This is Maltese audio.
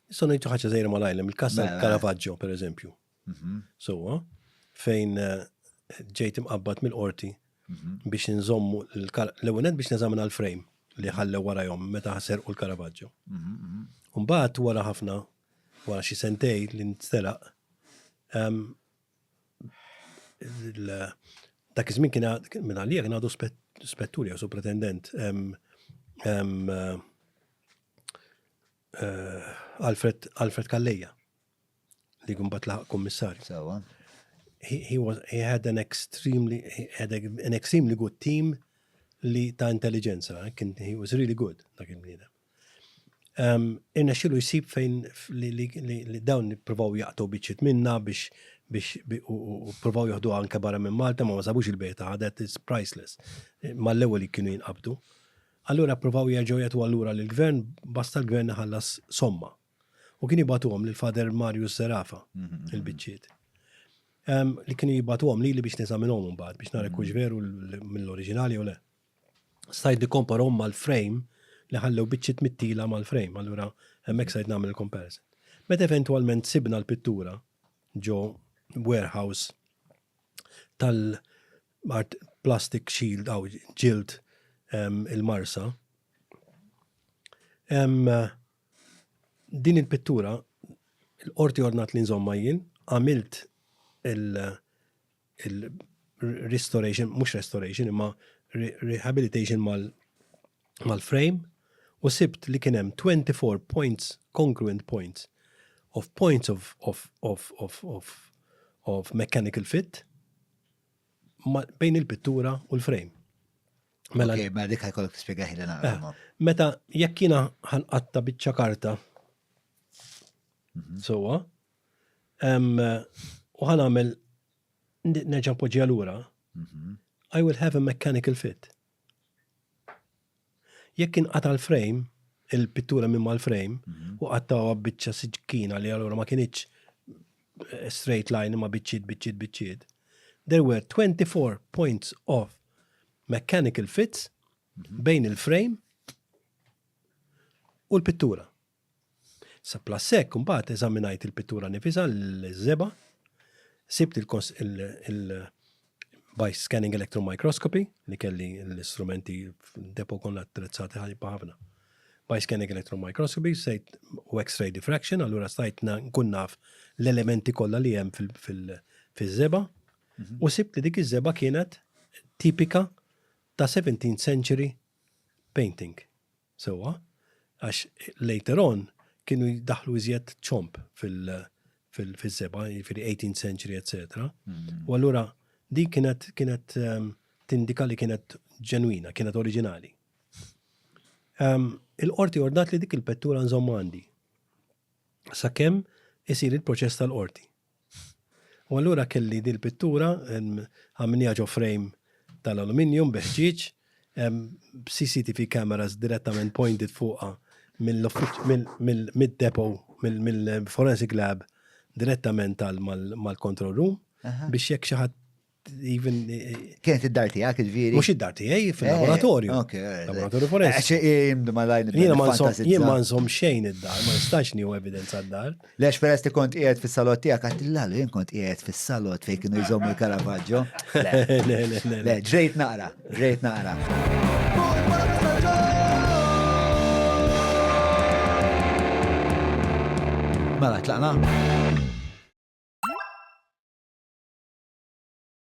Nistgħu ngħidu ħaġa żejra malajr hemm il-każ mela. tal-Caravaggio pereżempju. Mhm. Sewwa fejn eh, ġejt imqabbad mill-qorti mhm. biex nżommu l-ewwel biex neżamina l-frame li ħallew warajhom meta ħaser u l-Caravaggio. Mhm, Mbagħad wara ħafna wara xi sentej li nstelaq ehm, dak iż-żmien kien minn għalija kien għadu spetturi jew supretendent ehm, ehm, eh, Alfred, Alfred Kalleja, li gumbat laħaq kommissarju. Sawa. He, he, was, he had an extremely, he had an extremely good team li ta' intelligenza, eh, kien he was really good dak il-bniedem. Um, Irna xilu jisib fejn li, li, li, li dawn provaw jaqtu biċċit minna biex biex u provaw joħdu anke barra minn Malta ma ma sabux il-beta għadet is priceless. Eh, mal-ewwel kienu jinqabdu. Allura ppruvaw jerġgħu jgħatuha lura lill-Gvern, basta l-Gvern iħallas somma. U kienu jibgħatuhom lil Father Marius Zerafa, il-biċċiet. Li kienu jibgħatuhom lili biex neżaminhom imbagħad biex nara kux veru mill-oriġinali jew le. Stajt nikkomparhom mal-frame li ħallew biċċiet mittila mal-frame, allura hemmhekk stajt nagħmel il-comparison. Meta eventwalment sibna l-pittura ġo warehouse tal-art plastic shield aw ġild il-marsa. Din il-pittura l-qorti ordnat li nżomma jien, għamilt il-restoration, mhux restoration imma rehabilitation mal-frame u sibt li kien hemm 24 points, congruent points, of points of, of, of, of, of, of mechanical fit bejn il-pittura u l-frame. Mela, okay, mela dik ħajkollok tispjegaħi li naqra. Eh, meta jekk jiena ħanqatta biċċa karta mhm. sowa, u ħanamel nerġa' poġġi lura, mhm. I will have a mechanical fit. Jekk inqata' l-frame, il-pittura minn mal-frame, u qattgħuha b'biċċa siġkina li allura ma kinitx straight line imma biċċiet, biċċiet, biċċiet, there were 24 points of mechanical fits bejn il-frame u l-pittura. Saplus hekk, imbagħad eżaminajt il-pittura nifisha l-żebgħa, sibt il by scanning electron microscopy li kelli l-istrumenti depo konna attrezzati ħajba ħafna. By scanning electron microscopy sejt u x-ray diffraction, allura stajt nkun naf l-elementi kollha li hemm fil-żebgħa mhm. u sibt li dik iż-żebgħa kienet tipika ta' 17th century painting. Sewwa, għax later on kienu jdaħħlu iżjed ċomb fil-seba, jiġifieri 18th century, etc. U allura dik kienet kienet ehm, tindika li kienet ġenwina, kienet oriġinali. Ehm, il-qorti ordat li dik il-pettura nżomm għandi. Sakemm isir il-proċess tal-qorti. U allura kelli din il-pittura, għamilniha ġo frame tal-aluminium bi ħġieġ, b'CCTV cameras direttament pointed fuqha mid-depot, mill-forensic lab direttament mal-control room biex jekk xi ħadd even. Kienet id-dar tijak, il-viri. Mux id-dar tijaj, fil-laboratorju. Eh, ok, eh, laboratorju forest. Għaxe jimdu malajn. Jien ma nsom xejn id-dar, ma nistax nieħu evidenza d-dar. Lex peress li kont qiegħed fis-salot tiegħek għad l-għalu jien kont qiegħed fis-salot fejn kienu jżommu l-Caravaggio. Le, ġrejt naqra. Rejt naqra. Mela tlaqna?